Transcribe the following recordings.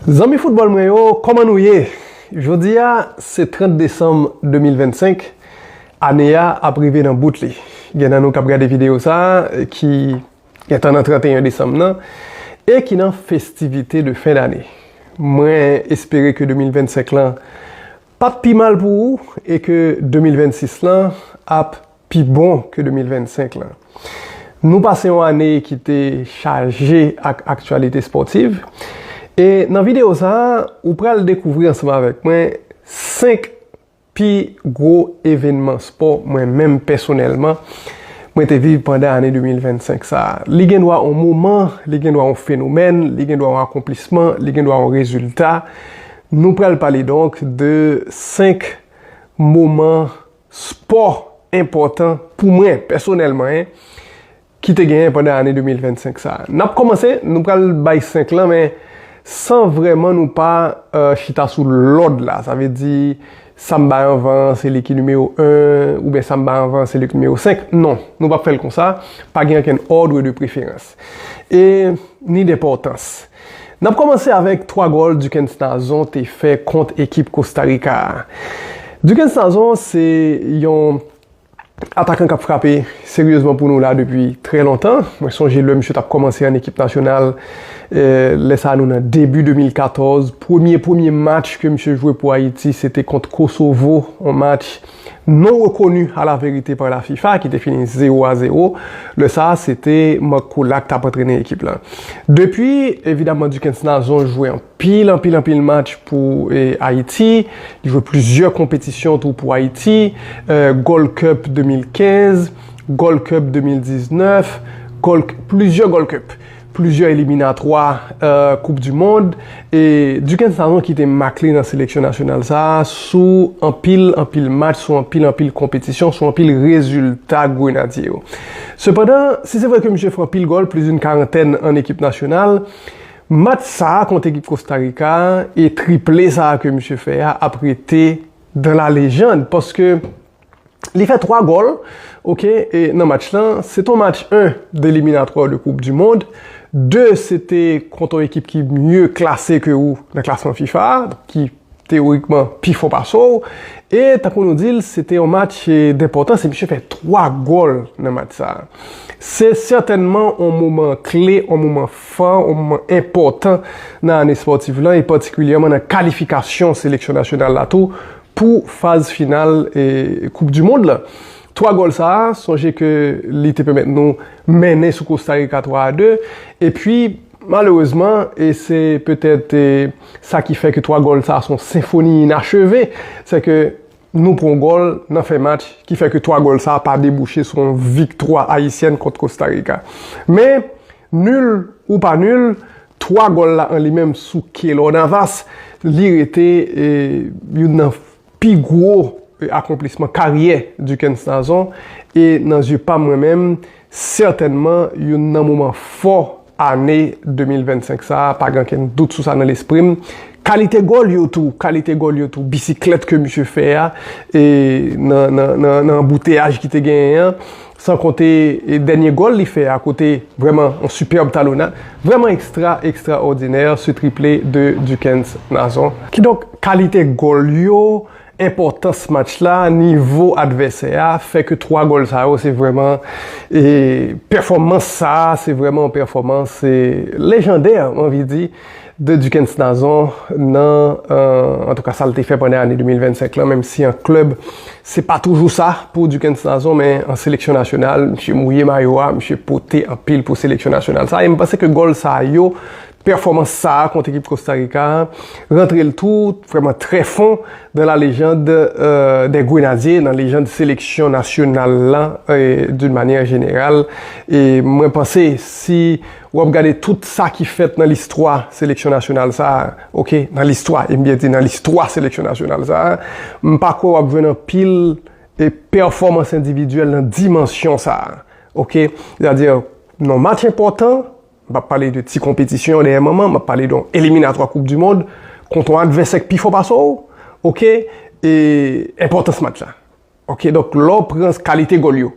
Zanmi foutbòl mwen yo, kòman nou ye? Jodi a, se 30 desanm 2025, ane a ap rive nan bout li. Gen nan nou k ap gade videyo sa a ki gentan nan 31 desanm nan e ki nan festivite de fen dane. Mwen espere ke 2025 lan p ap pi mal pou ou e ke 2026 lan ap. pi bon ke 2025 lan. Nou pase yon ane ki te chaje ak aktyalite spòtiv e nan videyo sa a ou pral dekouvri ansanm avèk mwen 5 pi gwo evènman spò mwen menm pèsonèlman mwen te viv pandan ane 2025 sa a. Li gen dwa yon moman, li gen dwa yon fenomèn, li gen dwa yon akonplisman, li gen dwa yon rezilta. Nou pral pale donk de 5 moman. Spò enpòtan pou mwen pèsonèlman en ki te genyen pandan ane 2025 sa. N ap kòmanse, nou pral bay 5 lan men san vrèman nou pa chita sou lòd la. Sa vle di sa m bay anvan an se li ki nimewo 1 oubyen sa m bay anvan an se li ki nimewo 5. Non, nou p ap fè l konsa, pa gen ankenn òdre de preferans e ni denpòtans. N ap kòmanse avèk 3 gòl Duckens Nazon te fè kont ekip Kosta Rika a. Duckens Nazon se yon atakan k ap frape seryezman pou nou la depi trè lontan. Mwen sonje lè misye t ap kòmanse an ekip nasyonal, lè sa a nou nan debi 2014, premye premye match ke misye jwe pou Ayiti se te kont Kosovo, yon match. Non rekoni a la verite pa la fifa ki te fini 0 a 0, lè sa a se te Marc Coullat k t ap antrene ekip la. Depi, evidaman Duckens Nazon jwe anpil anpil anpil match pou Ayiti, li jwe plizyè konpetisyon tou pou Ayiti, Gold Cup 2015, Gold Cup 2019, Gold, plizyè Gold Cup. plizyè eliminatwa koup di mond e Duken Sanon kite mak li nan seleksyon nasyonal sa a sou anpil anpil match, sou anpil anpil konpetisyon, sou anpil rezilta grenadye yo. Sepandan, si se vre ke misye fè anpil gòl, plis doun karantèn an ekip nasyonal, match sa a kont ekip Kostarika a e triple sa a ke misye fè a ap rete dan la lejand paske Li fè 3 gòl ok nan match lan. Se ton match 1 de eliminatwa de koup di mond. 2 se te kont on ekip ki mye klase ke ou nan klasman fifa a, ki teorikman pi fò pase w. E tankou nou di l, se te on match denpòtans e misye fè 3 gòl nan match sa a. Se sètènman on moman kle, on moman fò, on moman enpòtan nan ane spòtif lan e patikilyèman nan kalifikasyon seleksyon nasyonal la tou. pou faz final koup du mond la. 3 gòl sa, sonje ke li te pèmèt nou mennen sou Kosta Rika 3 a 2, epi malerezman, e se petèt sa ki fè ke 3 gòl sa son senfoni inacheve, se ke nou pran yon gòl nan fen match ki fè ke 3 gòl sa pa debouche sou yon viktwa ayisyèn kont Kosta Rika. Men, nul ou pa nul, 3 gòl la an li menm sou Keylor Navas, li rete youn nan pi gwo akonplisman karyè Duckens Nazon e nan zye pa m mwen menm, sètènman youn nan moman fò ane 2025 sa a, pa gen okenn dout sou sa nan lespri m. Kalite gòl yo tou, kalite gòl yo tou, bisiklèt ke misye fè a nan anbouteyaj ki te genyen an, San konte dènye gòl li fè a kote vrèman yon sipèb talonnad vrèman ekstra ekstra òdinè sou triple de Duckens Nazon. Kidonk kalite gòl yo, enpòtans match la, nivo advèsè a fè ke 3 gòl sa yo se vrèman e pèfòmans sa a se vrèman yon pèfòmans lejandè m anvi di de Duckens Nazon nan antouka sa l te fè pandan ane 2025 lan menm si an klèb se pa toujou sa pou Duckens Nazon men an seleksyon nasyonal misye mouye mayo a misye pote anpil pou seleksyon nasyonal sa a e m panse ke gòl sa yo pèfòmans sa a kont ekip Kostarika a rantre l tou vrèman trè fon nan la lejand dè grenadye nan lejand seleksyon nasyonal lan doun manyè jeneral e mwen panse si. W ap gade tout sa ki fèt nan listwa seleksyon nasyonal sa a, ok, nan listwa, e m byen di nan listwa seleksyon nasyonal sa a, m pa kwè w ap jwenn anpil pèfòmans endividyèl nan dimansyon sa a, ok. Sètadi, nan match enpòtan, m pa pale de ti konpetisyon dèyè manman, m ap pale de yon eliminatwa koup di mond, kont yon advèsè ki pi fò pase w, ok, e enpòtans match la. Ok donk lè w pran kalite gòl yo,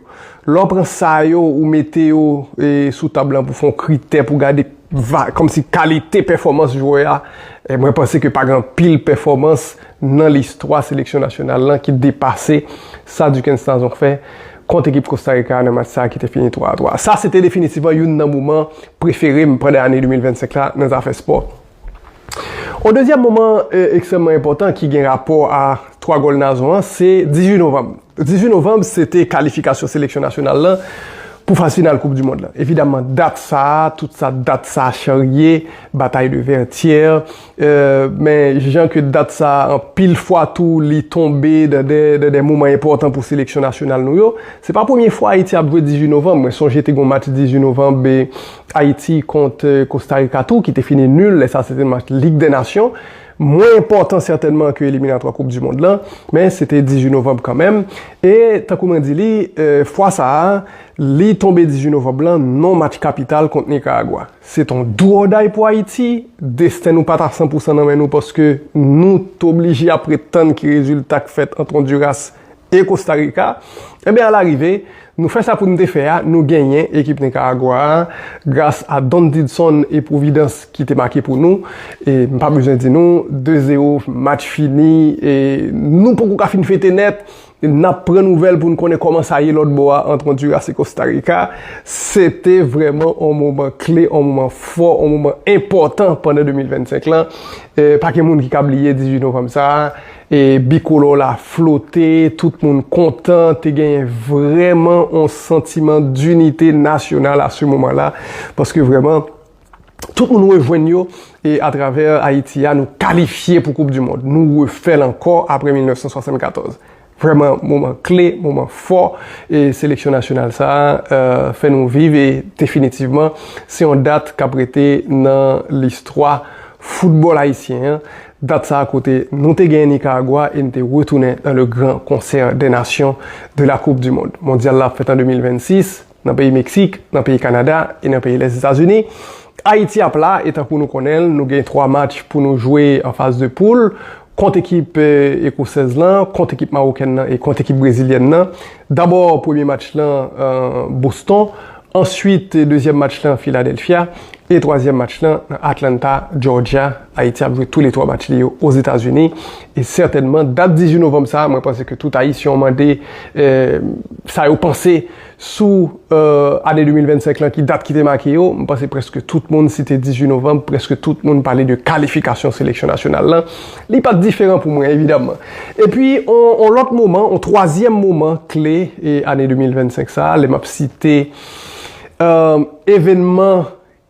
lè w pran sa yo ou mete yo sou tab lan pou fè yon kritè pou gade kòmsi kalite pèfòmans jwè a, mwen panse ke pa gen anpil pèfòmans nan listwa seleksyon nasyonal lan ki depase sa Duckens Nazon fè kont ekip Kosta Rika a nan match sa a ki te fini 3 a 3. Sa se te definitivman youn nan moman prefere m pandan ane 2025 la nan zafè spò. On dezyèm moman ekstrèmman enpòtan ki gen rapò a 3 gòl Nazon an se 18 novanm. 18 novanm se te kalifikasyon seleksyon nasyonal lan pou faz final koup dimond lan. Evidaman dat sa a, tout sa dat sa a charye, batay de vètyè, men jan ke dat sa a anpil fwa tou li tonbe dan de moman enpòtan pou seleksyon nasyonal nou yo. Se pa premye fwa Ayiti ap jwe 18 novanm. Mwen sonje te gen yon match 18 novanm Ayiti kont Kosta Rika tou ki te fini nul lè sa se te match Lig dè Nasyon, mwen enpòtan sètènman ke eliminatwa koup du mond lan, men se te 18 novanb kanmenm, e tankou mwen di li, fwa sa a, li tonbe 18 novanb lan non match kapital kont Nikaragwa. Se t on do or day pou Ayiti, desten nou pa ta san pou san nan men nou paske nou t oblije ap ret tann ki rezilta k fèt ant Onduras e Kosta Rika, enben alarive, nou fè sa pou n te fè a, nou genyen ekip Nikaragwa a, gras a Don Didson e Pwovidans ki te make pou nou, e m pa bezwen di nou, 2 zero, match fini, e nou poko ka fin fete nèt, n ap pran nouvèl pou n konnen kòman sa ye lòtbò a ant Onduras e Kosta Rika, se te vrèman on moman kle, on moman fò, on moman enpòtan pandan 2025 lan, pa gen moun ki ka bliye 18 novanm sa a. E bikolò la flote, tout moun kontan, te genyen vrèman yon santiman dinite nasyonal a se moman la, paske vrèman, tout moun rejwenn yo, e atravè Ayiti a, nou kalifye pou koup di mond. Nou refè l ankò apre 1974. Vrèman moman kle, moman fò, e seleksyon nasyonal sa a fè nou viv, e definitivman, se yon dat k ap rete nan listwa foutbòl ayisyen an. Dat sa a kote nou te genyen Nicaragua e n te retounen nan le gran konsè dè nasyon de la koup di mond. Mondyal la ap fèt an 2026 nan peyi Meksik, nan peyi Kanada e nan peyi lès Etazini. Ayiti ap la e tankou nou konnen l nou gen 3 match pou nou jwe an faz de poul kont ekip ekosèz lan, kont ekip mawokèn lan e kont ekip brezilyèn lan. Dabò premye match lan Boston, Answit dezyèm match lan Philadelphia e twazyèm match lan nan Atlanta, Georgia. Ayiti ap jwe tou le twa match li yo Ozetazini e sètènman dat 18 novanm sa a mwen panse ke tout Ayisyen w mande sa yo panse sou ane 2025 lan ki dat ki te make yo. M panse preske tout moun site 18 novanm, preske tout moun pale de kalifikasyon seleksyon nasyonal lan. Li pa t diferan pou mwen, evidamman. Epi, yon lòt moman, yon twazyèm moman kle ane 2025 sa a, lè m ap site evènman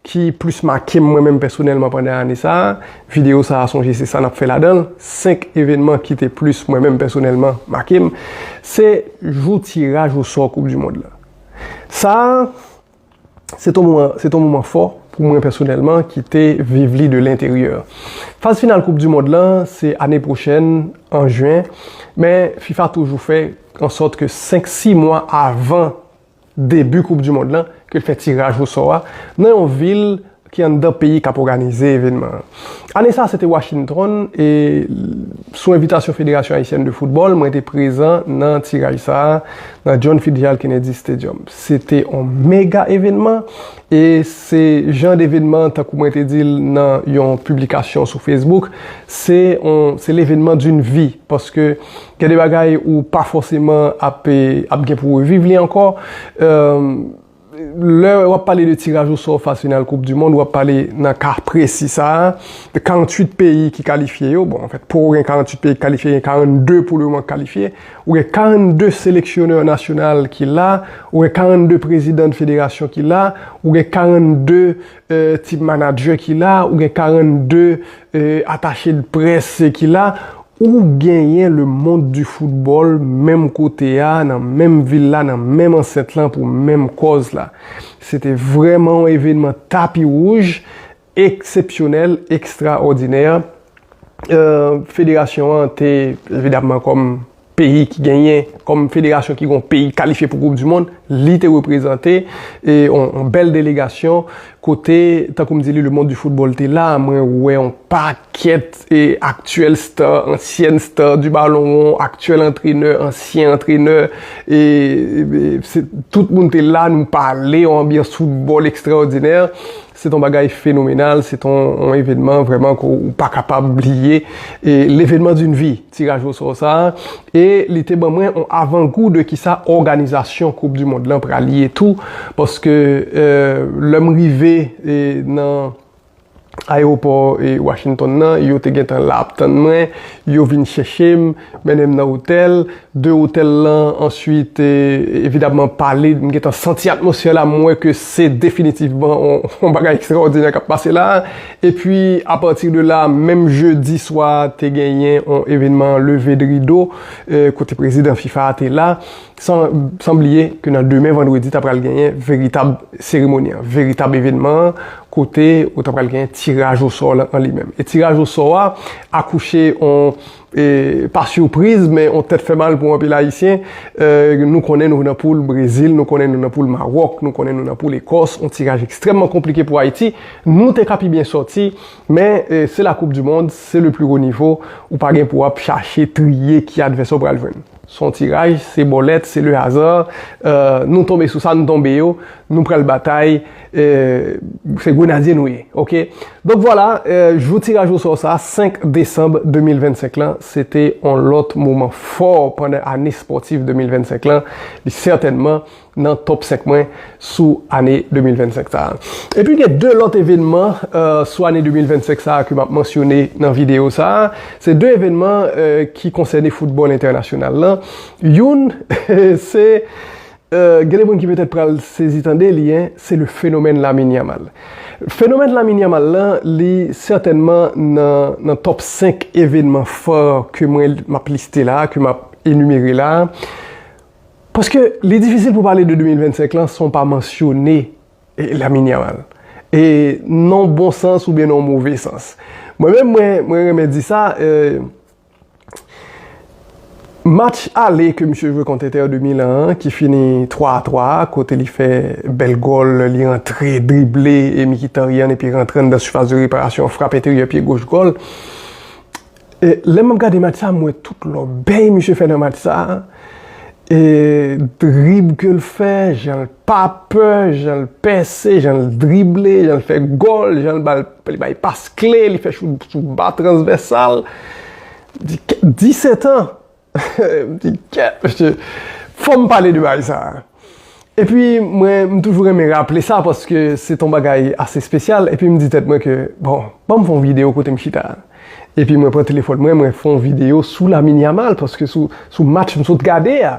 ki plis make m mwen menm pèsonèlman pandan ane sa a, videyo sa a sonje se sa n ap fè ladan l, senk evènman ki te plis mwen menm pèsonèlman make m, se jou tiraj osò koupdimond la. Sa a. Se t on moman fò pou mwen pèsonèlman ki te viv li de lenteryè. Faz final koup du mond lan se ane pwochèn an juin men fifa toujou fè an sòt ke 5 6 mwa avan debu koup du mond lan ke l fè tiraj o sò a nan yon vil ki anndan peyi k ap òganize evènman an. Ane sa a se te Washington e sou envitasyon Federasyon Ayisyèn de Foutbòl mwen te prezan nan tiraj sa a nan John Fitzgerald Kennedy Stadium. Se te on mega evènman e se jan d'evènman tankou mwen te di l nan yon piblikasyon sou Facebook, se on se l'evènman d'une vie paske gen de bagay ou pa fòseman ap ap gen pou reviv li ankò. Lè w ap pale de tiraj o sò faz final koup di mond, w ap pale nan ka presi sa a, de 48 peyi ki kalifye yo, bon anfèt pouw gen 48 peyi ki kalifye gen 42 pou le moman ki kalifye, ou gen 42 seleksyonè nasyonal ki la, ou gen 42 prezidan de federasyon ki la, ou gen 42. tip manadjè ki la, ou gen 42 atache de près ki la, ou genyen le mond di foutbòl menm kote a, nan menm vil la, nan menm ansèt lan pou menm kòz la. Se te vrèman yon evenman tapi wouj, eksepsyonèl, ekstraòdinè. Federasyon an te evidamman kòm. peyi ki genyen kòm federasyon ki gon peyi kalifye pou koup di mond li te reprezante e yon bèl delegasyon kote tankou m di li le mond di foutbòl te la mwen wè yon pakèt e aktyèl star ansyèn star di balon won aktyèl antrenè ansyen antrenè e se tout moun te la nou pale yon anbyans foutbòl ekstraòdinè Se t on bagay fenomenal, se t on evenman vrèman ke w pa kapab bliye, levenman di n vi, tiraj osò sa a, e li te ban mwen on avangou de kisa òganizasyon koup di mond lan pral ye tou, paske lè m rive nan ayewopò Washington nan, yo te gentan la ap tann mwen, yo vin chèche m, mennen m nan otèl. de otèl lan answit evidamman pale m gentan santi atmosfè la m wè ke se definitivman yon bagay ekstraòdinè kap pase la epi apati de la menm jedi swa te genyen yon evenman leve de rido kote prezidan fifa a te la san bliye ke nan demen vandredi ta pral genyen veritab seremoni an veritab evenman an kote ou ta pral genyen tiraj osò lan an li menm e tiraj osò a akouche yon Pa surpriz men yon tèt fè mal pou anpil ayisyen, nou konnen nou nan poul Brezil, nou konnen nou nan poul Maròk, nou konnen nou nan poul Ekòs, yon tiraj ekstrèmman konplike pou Ayiti, nou te ka pi byen sòti, men se la koup du mond, se le plus haut niveau, ou pa gen pou ap chache triye ki advèsè ou pral jwenn. Son tiraj, se bòlèt, se le hasard, nou tonbe sou sa nou tonbe yo, nou pral batay, se grenadye nou ye, ok. Donk vwala, jou tiraj o sò sa, 5 desanm 2025 lan, se te yon lòt moman fò pandan ane spòtif 2025 lan, li sètènman nan top 5 mwen sou ane 2025 sa a. Epi gen 2 lòt evenman sou ane 2025 sa a ke m ap mansyone nan videyo sa a. Se 2 evenman ki konsène foutbòl entènasyonal lan. Youn se, gen de moun ki petèt pral sezi tande li, se le fenomèn Lamine Yamal. Fenomèn Lamine Yamal lan, li sètènman nan top 5 evenman fò ke mwen m ap liste la a, ke m ap enimere la a. Paske li difisil pou pale de 2025 lan san w pa mansyone Lamine Yamal. E nan yon bon sans oubyen nan yon move sans. Mwen menm mwen renmen di sa, match ale ke misye jwe kont Inter de Milan an ki fini 3 a 3 a kote li fè bèl gòl, li rantre, drible, e Mkhitaryan epi rantre anndan sifas de reparasyon, frap enteryè pye goch gòl. E lè map gade match sa m wè tout lòbèy misye fè nan match sa e drib ke l fè jan l pa pè jan l pèse jan l drible jan l fè gòl jan l bal li bay pas kle li fè chout sou ba transvèsal 17 ans M di kèt mesye, fò m pale de bagay sa a. Epi mwen m toujou renmen raple sa paske se t on bagay ase espesyal epi m di tèt mwen ke bon, ban m fè yon videyo kote m chita a. Epi mwen pran telefòn mwen, mwen fè yon videyo sou Lamine Yamal paske sou match m sot gade a.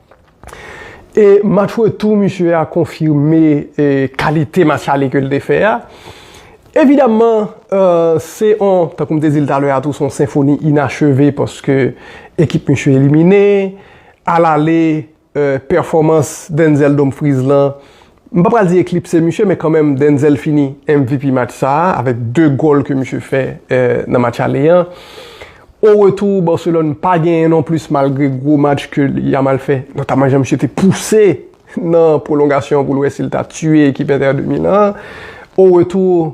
E match retou misye a konfime kalite match ale ke l te fè a. Evidamman, se yon, tankou m te di l talè a tou, se yon senfoni inacheve paske ekip misye elimine. Alale, pèfòmans Denzel Dumfries lan M pa pral di eklipse misye men kanmenm Denzel fini MVP match sa a avèk 2 gòl ke misye fè nan match ale an. O retou Barcelone pa genyen non plis malgre gwo match ke Yamal fè notamman jan misye te pouse nan pwolongasyon pou l wè si l ta tiye ekip Inter de Milan an. O retou.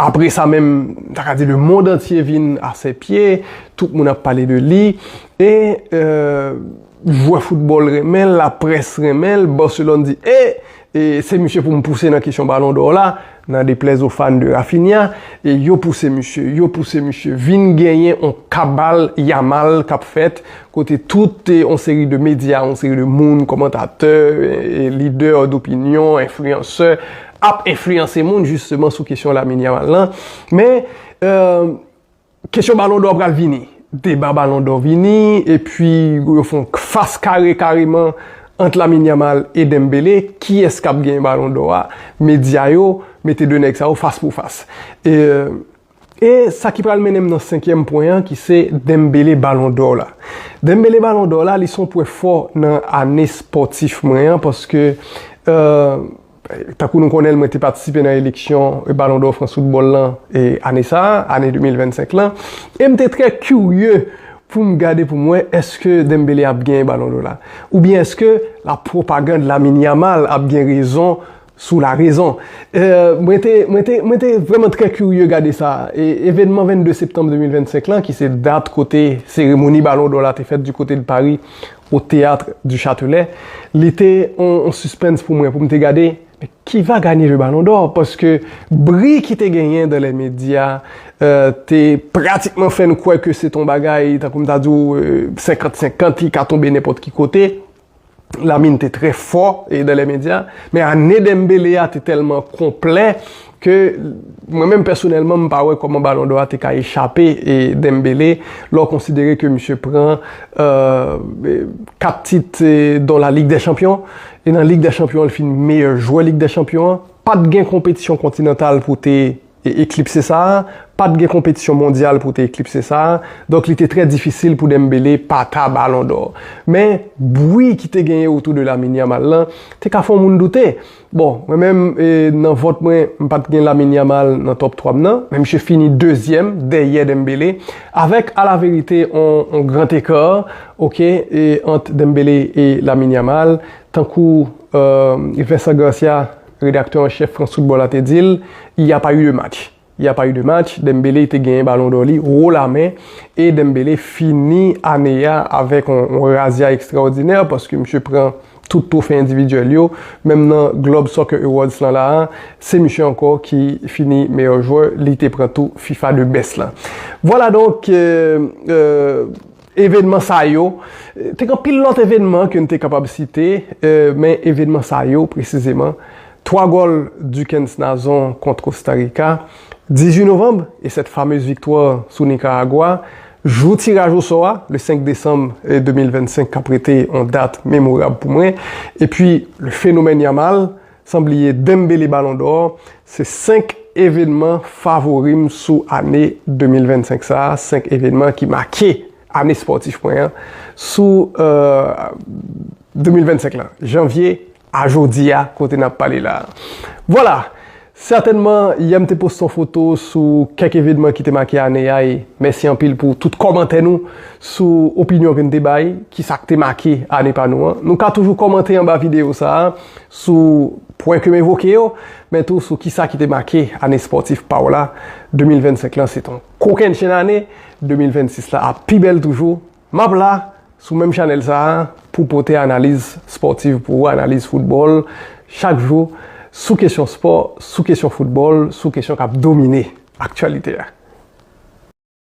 Apre sa menm, m ta ka di le mond antye vin a sè pye, tout moun ap pale de li, e jwè foutbòl renmen l, laprès renmen l, Barcelone di e, e se misye pou m pouse nan kesyon balon dò la, nan deplèz o fan de Raphinha, e yo pouse misye, yo pouse misye, vin genyen on kabal Yamal k ap fèt, kote tout on seri de medya, on seri de moun, kòmantatè, lidè dopinyon, enfliyansè, ap enfliyanse moun jisteman sou kesyon Lamine Yamal lan. Men, kesyon balon dò pral vini. Deba balon dò vini, epi yo fon fas kare kareman ant Lamine Yamal e Dembele, kiyès kap gen balon dò a, medya yo mete 2 nèg sa yo fas pou fas. E sa ki pral mennen m nan senkyèm pwen an ki se Dembele Balon Dò la. Dembele Balon Dò la li son pwen fò nan ane spòtif mwen an paske tankou nou konnen l mwen te patisipe nan eleksyon Balon Dò Frans Foutbòl lan ane sa a, ane 2025 lan e m te trè kirye pou m gade pou m wè èske Dembele ap genyen Balon Dò la oubyen èske la pwopagand Lamine Yamal ap gen rezon Sous la raison. Mwen te, mwen te, mwen te vrèman trè kirye gade sa. E, evènman 22 septanm 2025 lan, ki se dat kote seremoni Balon dò la te fèt du côté de Paris, au Théâtre du Châtelet, li te on, on suspens pou mwen, pou m te gade, men qui va gagner le Ballon d'Or? Paske bri ki te genyen dans les médias te pratikman fè n kwè ke se t on bagay, tankou m ta di w, 50-50, li ka tonbe nenpòt ki kote. Lamine te trè fò e dan lè medya, men ane Dembele a te tèlman konplè ke mwen menm pèsonèlman m pa wè kòman balon dò a te ka echape e Dembele lè w konsidere ke misye pran 4 tit don la Ligue des Champions e nan Ligue des Champions an li fin meyè jwè Ligue des Champions an, pat gen konpetisyon kontinantal pou te eklipse sa a, pa t gen konpetisyon mondyal pou te eklipse sa a, donk li te trè difisil pou Dembélé pa ta Balon dò. Men, bwi ki te genyen otou de Lamine Yamal lan, te ka fè yon moun doute. Bon, mwen menm, nan vòt mwen, m pa t gen Lamine Yamal nan tòp 3 m nan, men misye fini dezyèm, dèyè Dembélé, avèk alaverite yon gran eka, ok, ant Dembélé e Lamine Yamal, tankou Vincent Garcia, Redaktè an chèf France Football la te di l, Il y a pas eu de match. Il y a pas eu de match, Dembélé te genyen balon dò li wo lamen e Dembélé fini ane a avèk yon razya ekstraòdinè paske misye pran tout twofe endividyèl yo, menm nan Globe Soccer Awards lan la a, se misye ankò ki fini meyè jwè, li te pran tou fifa de best lan. Vwala donk! Evenman sa yo, te gen anpil lòt evenman ke n te kapab site, men evenman sa yo presizeman, 3 gòl Duckens Nazon kont Kosta Rika, 18 novanm, e sèt famez viktwa sou Nikaragwa, jou tiraj osò a, le 5 desanm 2025 k ap rete yon dat memorab pou mwen, epi le fenomèn Yamal, San bliye Dembele Ballon d'Or, se 5 evenman favori m sou ane 2025 sa, 5 evenman ki make ane spòtif mwen an sou 2025 lan, janvye a jodi a kote n ap pale la. Vwala! Sètènman, yè m te poste yon foto sou kèk evenman ki te make ane a e mèsi anpil pou tout kòmantè nou sou opinyon ke n te bay, kisa k te make ane pa nou an. Nou ka toujou kòmante anba videyo sa a. sou pwen ke m evoke yo, men tou sou kisa ki te make ane spòtif pa w la, 2025 lan se t yon kokennchenn ane, 2026 la ap pi bèl toujou, m ap la sou menm chanèl sa a pou pote analiz spòtiv pou ou, analiz foutbòl chak jou sou kesyon spò, sou kesyon foutbòl, sou kesyon k ap domine aktyalite a.